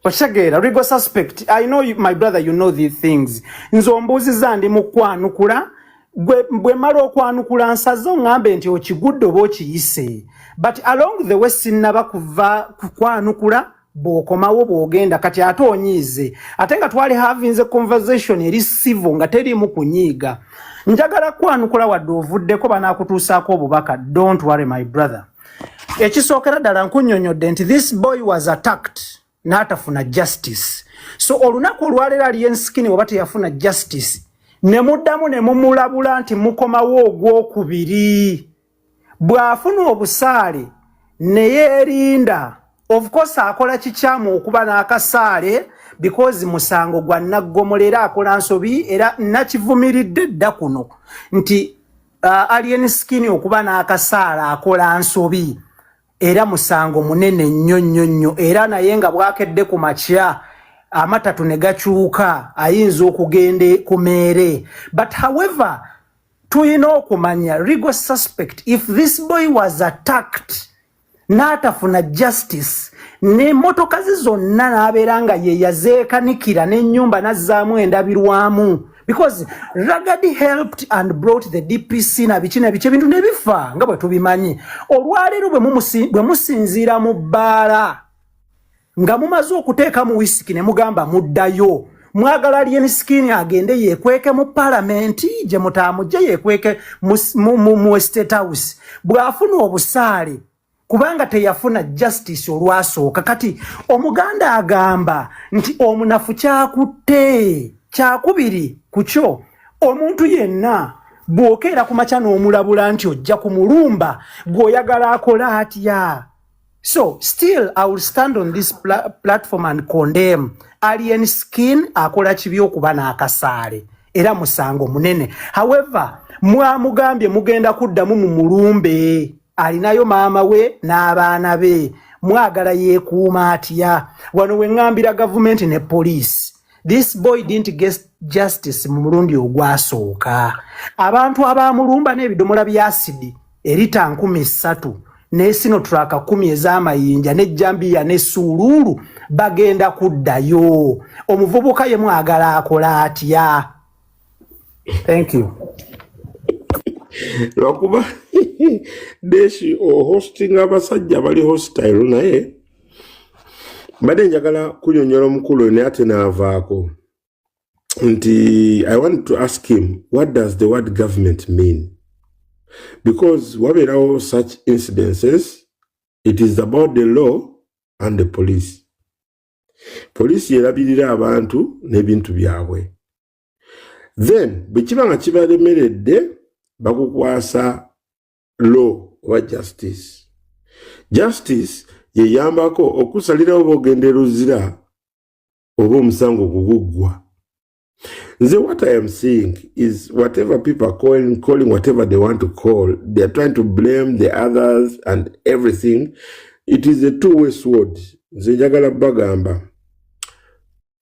okitegeera rigo suspect i know you, my brother you know these things nze ombuuziza ndi mukwanukula bwe mala okwanukula nsaze oŋambe nti okigudde oba okiyise but along the way sinnaba kuva kukwanukula bwokomawo bwogenda kati ate onyiize ate nga twali havinze conversation eri sivo nga teriimu kunyiiga njagala kwanukula wadde ovuddeko banakutuusaako obubaka don't worry my brother ekisookera ddala nkunyonyodde nti this boy was attacked n'atafuna justice so olunaku olwaleero aliyo ensikini oba teyafuna justice ne muddamu ne mumulabula nti mukomawo ogwokubiri bw'afuna obusaale ne yeerinda of course akola kikyamu okuba n'akasaale because musango gwa naggomolera akola nsobi era nakivumiridde dda kuno nti uh, alien skin okuba n'akasaala akola nsobi era musango munene nnyo nnyo nnyo era naye nga bwakedde ku makya amatatu ne gakyuka ayinza okugenda ku meere but however tulina okumanya legal suspect if this boy was attacked n'atafuna justice n'emmotoka ze zonna n'abeera nga ye yazeekanikira n'ennyumba n'azzaamu endabirwamu because ragadi helped and brought the dpc na biki na biki ebintu ne bifa nga bwe tubimanyi olwaleero bwe musinziira mu bbaala nga mumaze okuteeka mu wisiki ne mugamba muddayo mwagala lien skin agende yekweke mu palamenti gye mutaamujje yekweke mu estate house bw'afuna obusaale kubanga teyafuna justice olwasooka kati omuganda agamba nti omunafu kyakutte kyakubiri ku kyo omuntu yenna bw'okeera ku makya n'omulabula nti ojja ku mulumba gw'oyagala akola atya So still I will stand on this pla platform and condemn Alien Skin akola kibi okuba n'akasaale era musango munene. However, mwamugambye mugenda kuddamu mu mulumbe alinayo maama we n'abaana be mwagala yeekuuma atya wano we ŋŋambira gavumenti ne poliisi this boy didn't get justice mu mulundi ogwasooka abantu abaamulumba n'ebidomola bya asidi erita nkumi ssatu nesino traka kumi ezamayinja nejjambiya nesuuluulu bagenda kuddayo omuvubuka ye mwagala akola atya thank you lwakuba deshi ohostinga abasajja bali hostile naye mbadde njagala kunyonyola omukulu naye ate naavaako nti i want to ask him what does the word government mean because wabeerawo such incidences it is about the law and the police poliisi yerabirira abantu n'ebintu byabwe then bwe kiba nga kibalemeredde bakukwasa law oba justice justice yeyambako okusalirawo bogenda eruzira oba omusango ogwo guggwa nze what i am seeing is whatever people are calling, calling whatever they want to call they are trying to blame the others and everything it is a two way sword nze njagala bagamba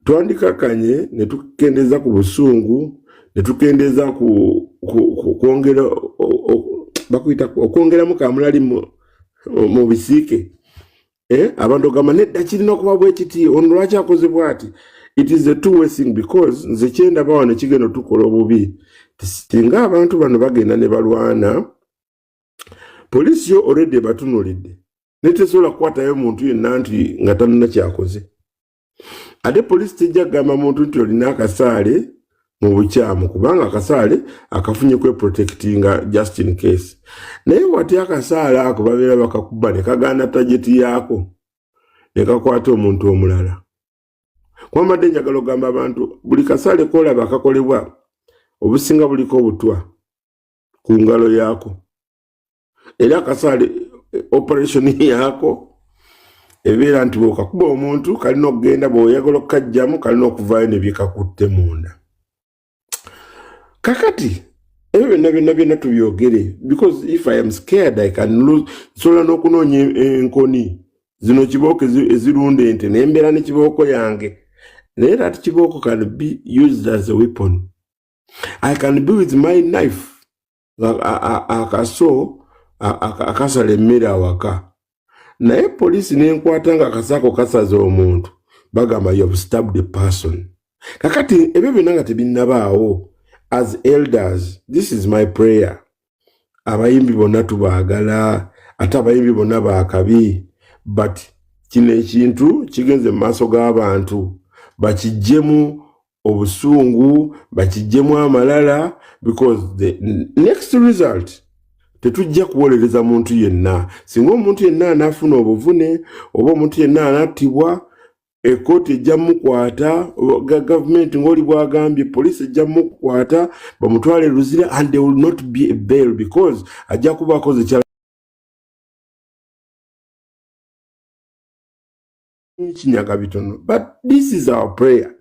twandikakanye ne tukendeeza ku busungu ne tukendeeza ku kwongera bakuyita okwongeramu kamulali mu bisiike eh, abantu ogamba nedda kirina okuba bwekiti ono lwaki akoze bwati it is a two way thing because nze kyendaba wano kigenda otukola obubi singa abantu bano bagenda ne balwana poliisi yo already ebatunulidde naye tesobola kukwatayo muntu yenna nti nga tanina kyakoze ate poliisi tejja kugamba muntu nti olina akasaale mu bukyamu kubanga akasaale akafunye kweprotekitinga just in case naye wati akasaale ako babeera bakakuba ne kagaana tageti yaako ne kakwata omuntu omulala kwambadde njagala okugamba abantu buli kasaale koolaba akakolebwa obusinga buliko obutwa ku ngalo yaako era akasaale eh, operation yaako ebeera nti bwekakuba omuntu kalina okugenda bweoyagala okukajjamu kalina okuvaayo nebyekakutte munda kakati ebyo byonna byonna byonna tubyogere because if i am scared i can lose nsobola n'okunoonya enkoni zino kibooko ezirunda ente nembeera ne kibooko yange naye that kibooko can be used as a weapon i can be with my knife akaso akasala emmere awaka naye poliisi nenkwata nga akasaako kasaza omuntu bagamba you have stabbed a person kakati ebyo byonna nga tebinnabaawo as elders this is my prayer abayimbi bonna tubaagala ate abayimbi bonna baakabi but kino ekintu kigenze mu maaso g'abantu bakijjemu obusungu bakijjemu amalala because the next result tetujja kuwolereza muntu yenna singa omuntu yenna anaafuna obuvune oba omuntu yenna anattibwa ekooti ejja mukwata gavumenti ngaoli bwagambye poliisi ejja mukwata bamutwale luzira and they will not be a bail because ajja kuba akoze kyala kinyaga bitono but this is our prayer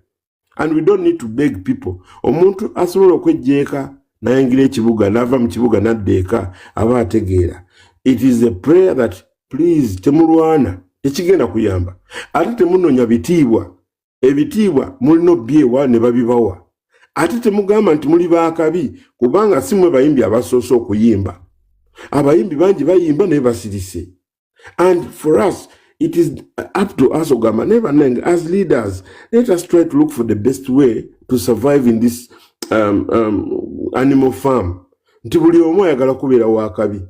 and we don't need to beg people omuntu asobola okwejjeeka nayingira ekibuga nava mu kibuga nadda eka aba ategeera it is a prayer that please temulwana tekigenda kuyamba ate temunonya bitiibwa ebitiibwa mulina obyewa ne babibawa ate temugamba nti muli bakabi kubanga si mwe bayimbi abasoose okuyimba abayimbi bangi bayimba naye basirise and for us it is up to us ogamba naye banange as leaders let us try to look for the best way to survive in this um, um, animal farm nti buli omu ayagala kubeera wakabi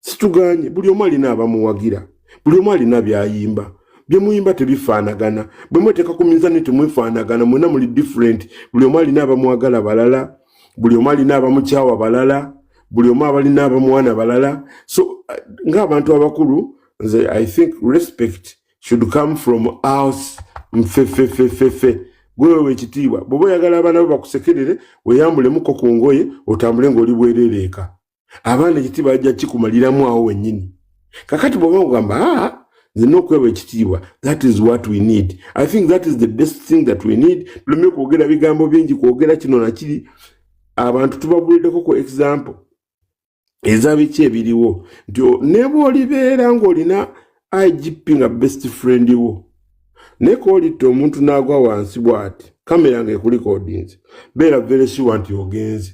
situganye buli omu alina abamuwagira buli omu alina byayimba byemuyimba tebifaanagana bwemuteeka ku minzani temwefaanagana mwena muli different buli omu alina abamwagala balala buli omu alina abamukyawa balala buli omu abalina abamwana balala so uh, ngaabantu abakulu nze i think respect should come from us mfefefefefe gwewewe ekitiibwa bwoba oyagala abaana bo bakusekerere weyambulemuko ku ngoye otambule ngaoli bwerereeka abaana ekiti bajja kikumaliramu awo wennyini kakati bwoba ogamba aa ah, nzina okweba ekitiibwa that is what we need i think that is the best thing that we need tuleme kwogera bigambo bingi kwogera kino nakiri abantu tubabuliddeko ku example eza biki ebiriwo nti neba olibeera ng'olina igp nga best friend wo naye koolitta omuntu n'agwa wansi bw'ati kamera ng'ekulikodinze beera veresiwa nti ogenze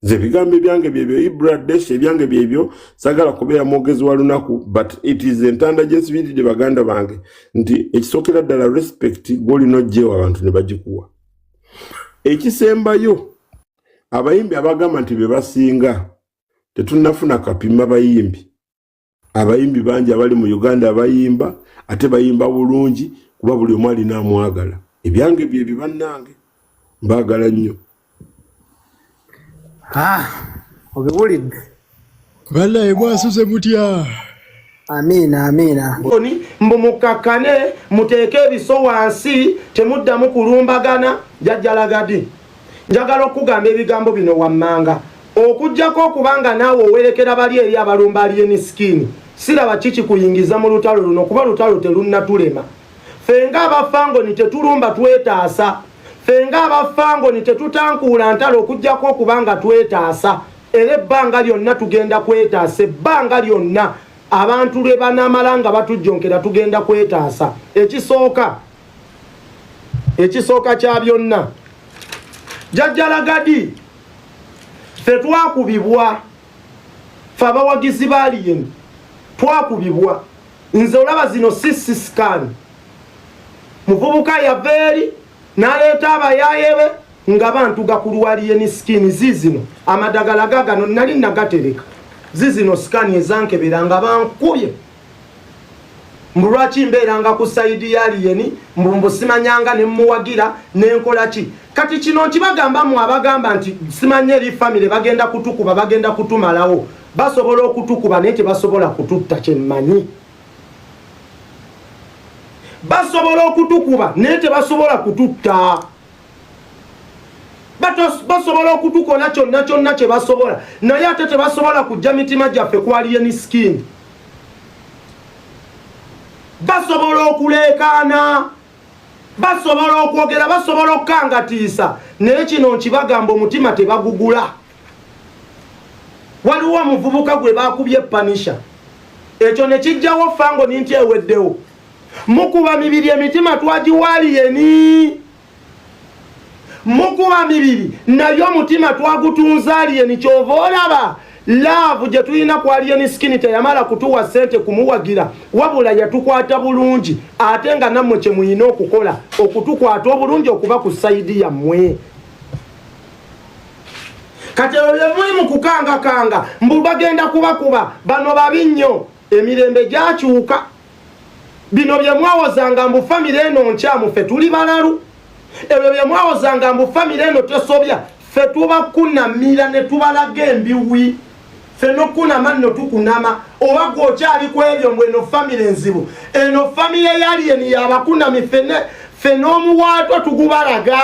nze ebigambo ebyange byebyo ibradesh ebyange byebyo sagala kubeera mwogezi wa lunaku but it is entanda gyensibiride baganda bange nti ekisookera ddala respect gwolina ojjeewo abantu ne bagikuwa ekisembayo abayimbi abagamba nti bebasinga tetunafuna kapima bayimbi abayimbi bangi abali mu uganda abayimba ate bayimba bulungi kuba buli omu alina amwagala ebyange byebyo bannange mbaagala nnyo ah, obiwulidde banaye mwasuze mutya amiina amiina oni mbu mukakkane muteeke ebiso wansi temuddamu kulumbagana jajjalagadi Njagala okugamba ebigambo bino wammanga, okujjako okuba nga naawe owerekera bali eri abalumba aliyeni sikini, siraba ki kikuyingiza mu lutalo luno kuba lutalo terunnatulema. Ffe nga aba Fangoni tetulumba twetaasa. Ffe nga aba Fangoni tetutankuula ntalo okujjako okuba nga twetaasa. Era ebbanga lyonna tugenda kwetaasa, ebbanga lyonna abantu lwe banaamala nga batujjonkera tugenda kwetaasa. Ekisooka. ekisooka kya byonna jajja lagadi fe twakubibwa fe abawagizi baliyen twakubibwa nze olaba zino sisi scan muvubuka yava eri naleeta abayaye be nga bantuga ku lwaliyeni skin zizino amadagala gagano nali nagatereka zizino scan ezankebera nga bankubye mbu lwaki mbeeranga ku sayidi ya aliyeni mbu mbu simanyanga ne mmuwagira ne nkola ki kati kino nkibagamba mu abagamba nti simanya eri famire bagenda kutukuba bagenda kutumalawo basobola okutukuba naye tebasobola kututta kyemmanyi basobola okutukuba naye tebasobola kututta basobola okutukola kyonna kyonna kye basobola naye ate tebasobola kujja mitima gyaffe kwaliye ni sikini basobola okuleekaana basobola okwogera basobola okukangatiisa naye kino nkibagamba omutima tebagugula waliwo omuvubuka gwe bakubye panisha ekyo nekijjawo fango ninti eweddewo mukuba mibiri emitima twagiwaaliyeni mukuba mibiri naye omutima twagutunza aliyeni kyova olaba laavu gye tulina ku aliyeni sikini teyamala kutuwa ssente kumuwagira wabula yatukwata bulungi ate nga nammwe kye muyina okukola okutukwata obulungi okuba ku sayidi yammwe kati ebyo bye muli mu kukangakanga mbu bagenda kubakuba bano babi nnyo emirembe gyakyuka bino bye mwawozanga mbu famire eno nkyamu ffe tuli balalu ebyo bye mwawozanga mbu famire eno tesobya ffe tubakunamira ne tubalaga embiwi ffe nokunama nno tukunama oba gwe okyali ku ebyo mbu eno famire enzibu eno famire yaliyeni yabakunami fene ffe n'omuwaatwa tugubalaga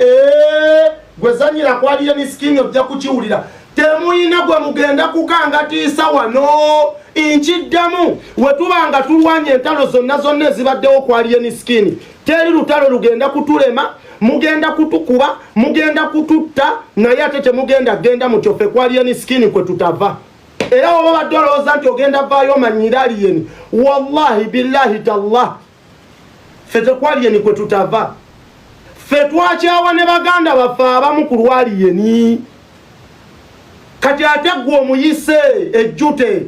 ee eh, gwezanyira kwaliyo ni sikingi ojja kukiwulira temuyina gwe mugenda kukangatiisa wano nkiddamu wetuba nga tulwanya entalo zonna zonna ezibaddewo kwaliyeni sikini teri lutalo lugenda kutulema mugenda kutukuba mugenda kututta naye ate temugenda genda mutyo fe kwaliyeni sikini kwe tutava era oba badde olowooza nti ogenda vaayo omanyira aliyeni wallahi billahi tallah ffe tekwaliyeni kwe tutava ffe twakyawa ne baganda baffe abamu ku lwaliyeni kati ate gwe omuyise ejjute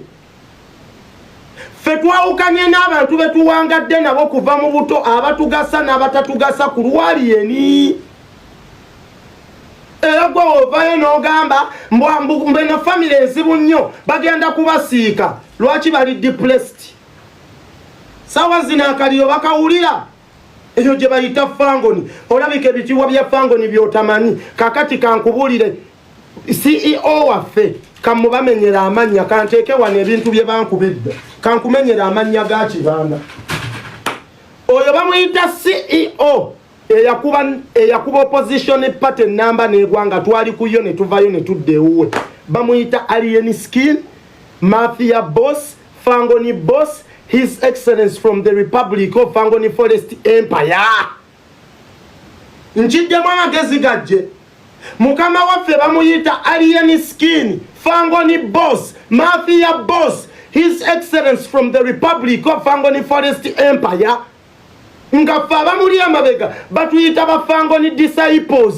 ffe twawukanye n'abantu be tuwangadde nabo kuva mu buto abatugasa n'abatatugasa ku lwaliyeni era gwe ovayo n'ogamba mbwambena famiry enzibu nnyo bagenda kubasiika lwaki bali depressed sawa zino akaliro bakawulira eyo gye bayita fangoni olabika ebitiibwa bya fangoni byotamanyi kakati kankubulire ceo waffe kamubamenyera amannya kanteeke wano ebintu bye bankuba edda kankumenyera amannya ga kibanda oyo bamuyita ceo eyakuba opposition party namba negwanga twali kuyo netuvayo netudda ewuwe bamuyita alien skin mafia boss Fangoni boss his excellence from the republic of Fangoni forest empire nkiddemu amagezi gajje mukama waffe bamuyita alien skin Fangoni boss mafia boss his excellence from the republic of Fangoni forest empire nga ffe abamuli emabega batuyita bafangoni disciples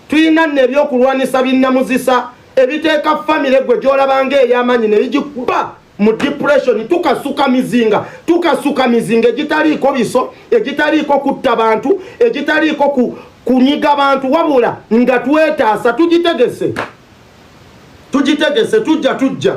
tulina nno ebyokulwanisa binnamuzisa ebiteeka famire gwe gyolabanga ey'amaanyi ne bigikuba mu depression tukasuka mizinga tukasuka mizinga egitaliiko biso egitaliiko kutta bantu egitaliiko ku, kunyiga bantu wabula nga twetaasa tugitegese tugitegese tujja tujja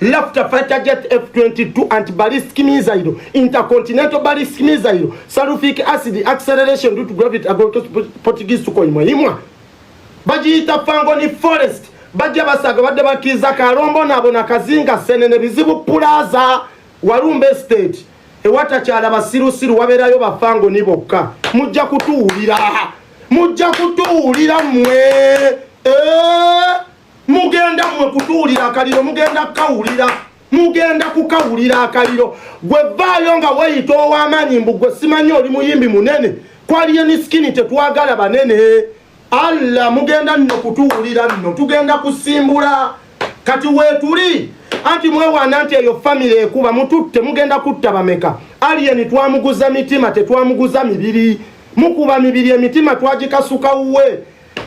Laughter fighter jet F-22 anti-ballistic missile, intercontinental ballistic missile, sulfuric acid acceleration due to gravity against Portuguese to koimwa imwa. Bajiyita Fangoni Forest, bajja basaga badde bakiza kalombo nabo na kazinga sene ne bizibu plaza Walumbe State. Ewata chala basiru siru wabera yo ba Fangoni bokka. Mujja kutuulira. Mujja kutuulira mwe. Eh! mugenda mwe kutuulira akaliro mugenda kukawulira mugenda kukawulira akaliro gwe vaayo nga weyita ow'amaanyi mbu gwe simanyi oli muyimbi munene kwaliyo ni sikini tetwagala banene allah mugenda nno kutuwulira nno tugenda kusimbula kati weetuli anti mwewaana nti eyo famire ekuba mututte mugenda kutta bameka aliyeni twamuguza mitima tetwamuguza mibiri mukuba mibiri emitima twagikasuka wuwe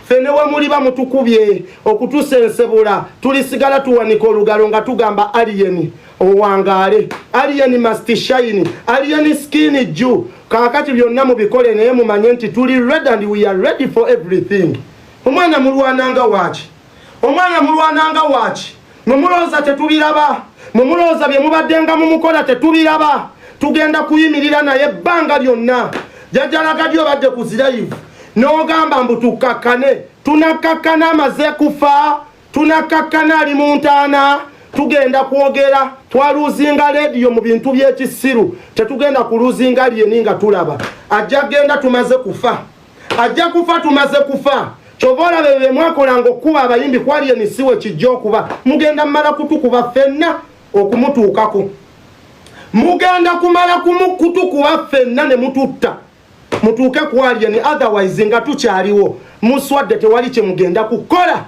ffe ne wemuliba mutukubye okutusa ensebula tulisigala tuwanika olugalo nga tugamba aliyeni owangaale aliyeni mastishayini aliyeni skini ju kakati byonna mubikole naye mumanye nti tuli red and we are ready for everything omwana mulwananga waaki omwana mulwananga waki mwemulowooza tetubiraba mwemulowooza byemubaddenga mumukola tetubiraba tugenda kuyimirira naye ebbanga lyonna jajalagadyo badde ku zirayivu n'ogamba mbu tukkakkane tunakkakkana amaze kufa tunakkakkana ali mu ntaana tugenda kwogera twaluzinga lediyo mu bintu by'ekisiru tetugenda kuluzinga lyeni nga tulaba ajja genda tumaze kufa ajja kufa tumaze kufa kyova olaba ebyo bemwakolanga okukuba abayimbi kwali emisiwa ekijja okuba mugenda mumala kutukuba fenna okumutuukako mugenda kumala kutukuba fenna ne mututta mutuuke kwalye ni otherwise nga tukyaliwo muswadde tewali kye mugenda kukola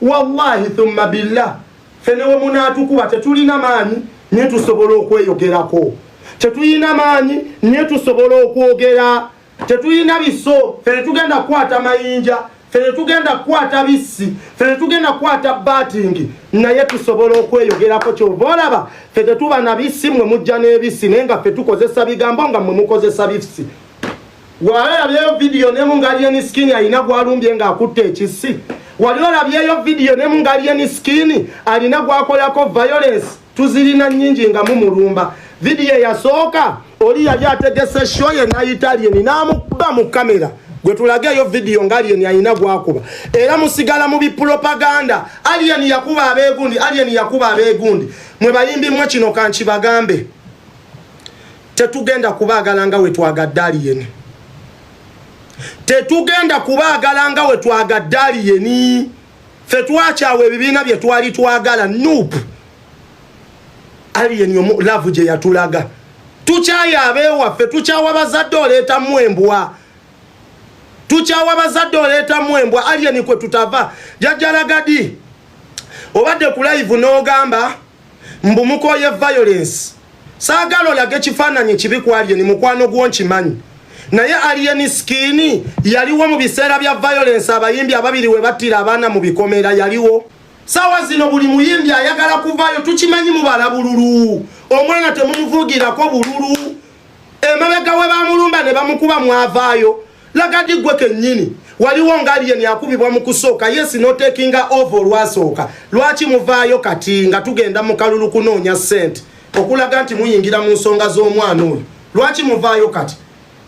wallahi thumma billah fene we munaatukuba tetulina maanyi nye tusobola okweyogerako tetulina maanyi nye tusobola okwogera tetuyina biso fe tetugenda kukwata mayinja fe tetugenda kukwata bissi fe tetugenda kukwata batingi naye tusobola okweyogerako kyova olaba fe tetuba na bissi mwe mujja n'ebissi naye nga fe tukozesa bigambo nga mwe mukozesa bissi wali olabyeyo vidiyo ne mungaliyeni sikini alina gwalumbye ng'akutte ekissi wali olabyeyo vidiyo ne mungaliyeni sikini alina gwakolako violence tuzirina nyingi nga mumulumba vidiyo eyasooka oli yali ategese sho ye nayitalieni namukuba mu kamera gwe tulageeyo vidiyo nga aliyeni alina gwakuba era musigala mu bipulopaganda aliyeni yakuba abegundi aliyeni yakuba abegundi mwe bayimbi mwe kino kankibagambe tetugenda kubaagala nga wetwagadde aliyeni tetugenda kubaagala nga wetwagadde aliyeni fe twakyawa ebibiina bye twali twagala nup alien omu love gye yatulaga tukyayo abewaffe tukyawa bazadde oleetamu embwa tukyawa bazadde oleetamu embwa alien kwe tutava jajjalagadi obadde ku live n'ogamba mbu mukoye violence saagala olage kifaananyi kibi kwalye ni mukwano gwo nkimanyi naye alien skin yaliwo mu biseera bya violence abayimbi ababiri we battira abaana mu bikomera yaliwo sawa zino buli muyimbi ayagala kuvayo tukimanyi mubala bululu omwana temumuvugirako bululu emabega we bamulumba ne bamukuba mwavaayo lagadi gwe kenyini waliwo nga alien yakubibwa mu kusooka yesi notekinga ova olwasooka lwaki muvaayo kati nga tugenda mu kalulu kunoonya sente okulaga nti muyingira mu nsonga z'omwana oyo lwaki muvaayo kati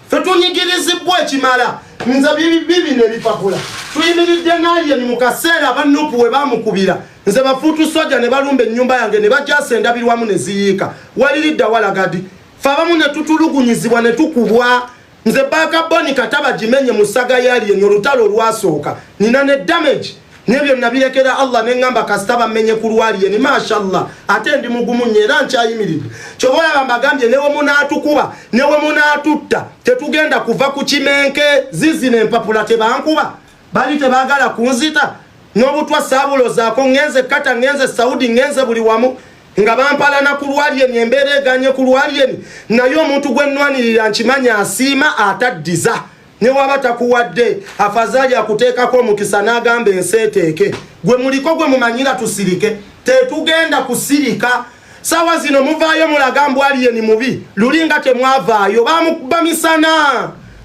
fe tunyigirizibwa ekimala nze bibi nebipapula tuyimiridde nalien mu kaseera abanupu we bamukubira nze bafuutu soja ne balumba ennyumba yange ne bajasa endabirwamu ne ziyiika waliridda walagadi fe abamu ne tutulugunyizibwa ne tukubwa nze baaka boni kataba gimenye mu ssaga yalien olutalo olwasooka nina ne damage nebyo nabirekera allah neŋamba kasita bamenye ku lwalien mashallah ate ndi mugumu nyo era nkyayimiridde kyoba olaba mbagambye newemunaatukuba newemunaatutta tetugenda kuva ku kimenke zizina empapula tebankuba bali tebagala kunzita n'obutwa saabulozaako ŋenze kata ŋenze saudi ŋenze buli wamu nga bampalana ku lwalyeni embeera eganye ku lwalyeni naye omuntu gwe nnwanirira nkimanyi asiima ataddiza ne waba takuwadde afazaali akuteekako omukisa n'agamba ensi eteeke gwe muliko gwe mumanyira tusirike tetugenda kusirika sawa zino muvaayo mulaga mbwaliyeni mubi luli nga temwavaayo bamukuba misana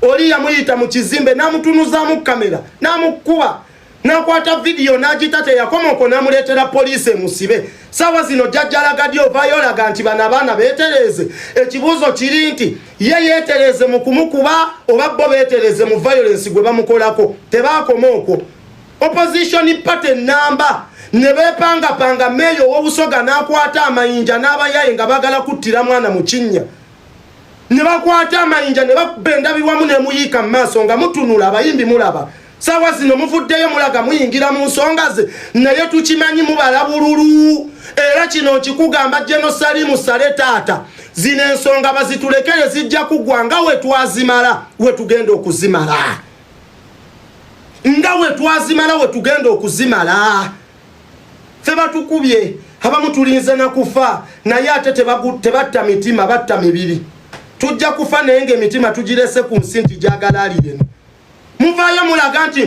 oli yamuyita mu kizimbe namutunuzamu kamera namukuba nakwata vidiyo n'agita teyakoma okwo namuleetera poliisi emusibe saawa zino jajjalagadi ovaayo olaga nti bano abaana beetereeze ekibuuzo kiri nti ye yeetereeze mu kumukuba oba bo beetereeze mu violensi gwe bamukolako tebaakoma okwo opposition party namba ne beepangapanga meeyo ow'obusoga n'akwata amayinja n'abayaye nga baagala kuttira mwana mu kinnya ne bakwata amayinja ne bakubba endabirwamu ne muyiika mu maaso nga mutunula abayimbi mulaba saawa zino muvuddeyo mulaga muyingira mu nsonga ze naye tukimanyi mubala bululu era kino nkikugamba genosalimu sale taata zino ensonga bazitulekere zijja kuggwa nga wetwazimala wetugenda okuzimala nga wetwazimala wetugenda okuzimala fe batukubye abamu tulinze nakufa naye ate tebatta mitima batta mibiri tujja kufa naye nga emitima tugirese ku nsi nti gyagala ali yeno muvaayo mulaga nti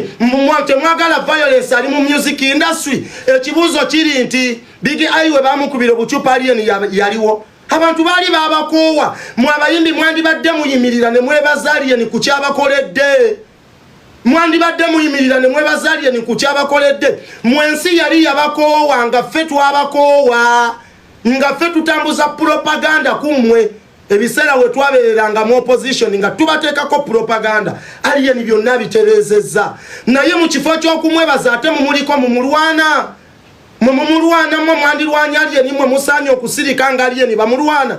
temwagala violence ali mu music industry ekibuuzo kiri nti bigi ai we bamukubira obucupa alien yaliwo abantu baali babakoowa mwe abayimbi mwandibadde muyimirira ne mwebaza alien ku kyabakoledde mwandibadde muyimirira ne mwebaza alien ku kyabakoledde mwe ensi yali yabakoowa nga ffe twabakoowa nga ffe tutambuza propaganda ku mmwe ebiseera we twabeereranga mu opposition nga tubateekako propaganda aliyeni byonna bitereezezza naye mu kifo ky'okumwebaza ate mumuliko mumulwana mwe mumulwana mwe mwandirwanya aliyeni mwe musaanye okusirika nga aliyeni bamulwana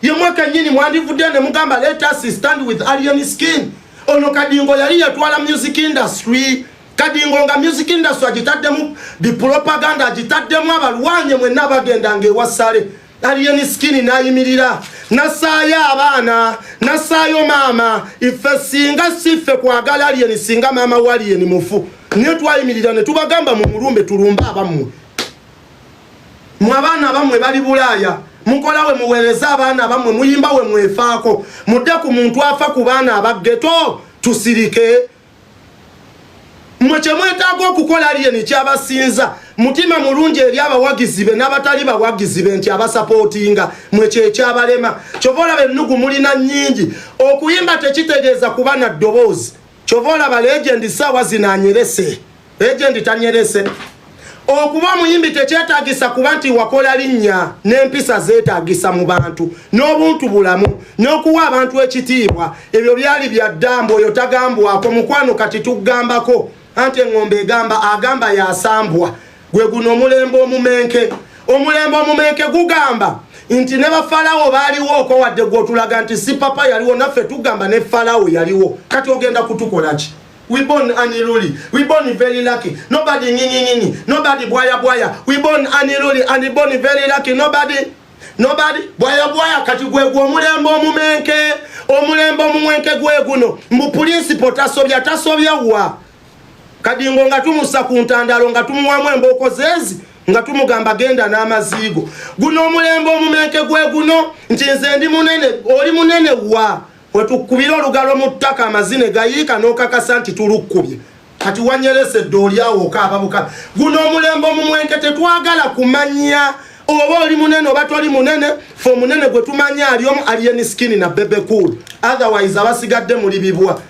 ye mweka nyini mwandivudde ne mugamba let us stand with aliyeni skin ono kadingo yali yatwala music industry kadingo nga music industry agitaddemu bipropaganda agitaddemu abalwanye mwenna bagendanga ewasale alien skin nayimirira nasaayo abaana nasaayo maama ife singa siffe kwagala alien singa maama walien mufu naye twayimirira ne tubagamba mu mulumbe tulumbe abammwe mwe abaana abammwe bali bulaaya mukola we muweereza abaana abammwe muyimba we mwefaako mudde ku muntu afa ku baana abaggeto tusirike mwe kyemwetaaga okukola aliyeni kyabasinza mutima mulungi eri abawagizi be n'abatali bawagizi be nti abasapootinga mwe kyekyabalema kyova olaba ennugu mulina nnyingi okuyimba tekitegeeza kuba na ddoboozi kyova olaba legendi saawa zino anyerese Agent tanyerese. Okuba muyimbi tekyetagisa kuba nti wakola linnya n'empisa zeetagisa mu bantu n'obuntu bulamu n'okuwa abantu ekitiibwa ebyo byali bya ddambo oyo tagambwako mukwano kati tugambako anti eŋŋombe egamba agamba yasambwa gwe guno omulembe omumenke omulembe omumenke gugamba nti ne bafalawo baaliwo oko wadde gwotulaga nti si papa yaliwo naffe tugamba ne falawo yaliwo kati ogenda kutukolaki We born Annie Luli. We born very lucky. Nobody nini nini. Nobody boya boya. We born Annie Luli and we born very lucky. Nobody. Nobody boya boya kati gwe gwo mulembo mumenke. Omulembo mumwenke gwe guno. Mu principle tasobya tasobya wa. Kadingo nga tumusa ku ntandalo nga tumuwamu emboko zezi nga tumugamba genda n'amaziigo. Guno omulembo omumenke gwe guno nti nze ndi munene oli munene wa. wetukubira olugalo mu ttaka amazine gayiika n'okakasa nti tulukkubye kati wanyeresa eddooli awo okaaba bukabi guno omulembe omumwenke tetwagala kumanya oba oli munene oba toli munene fe omunene gwe tumanya ali omu alien skin na bebe cool otherwise abasigadde muli bibwa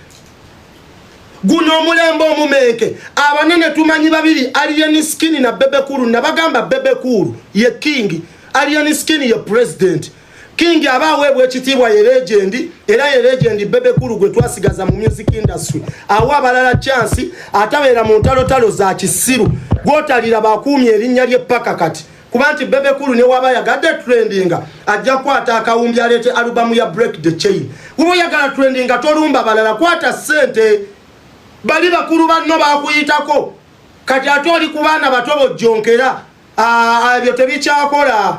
guno omulembe omumenke abanene tumanyi babiri alien skin na bebe cool nabagamba bebe cool ye king alien skin ye president King aba aweebwa ekitiibwa ye legendi era ye legendi Bebe Cool gwe twasigaza mu music industry. Awa abalala chance atabeera mu ntalotalo za kisiru gwotalira bakuumye erinnya lye paka kati kuba nti Bebe Cool ne waba yagadde trendinga ajja kwata akawumbi aleete alubamu ya Break the Chain. Wuba oyagala trendinga tolumba balala kwata ssente bali bakulu banno bakuyitako kati ate oli ku baana bato bojjonkera ah, ebyo tebikyakola.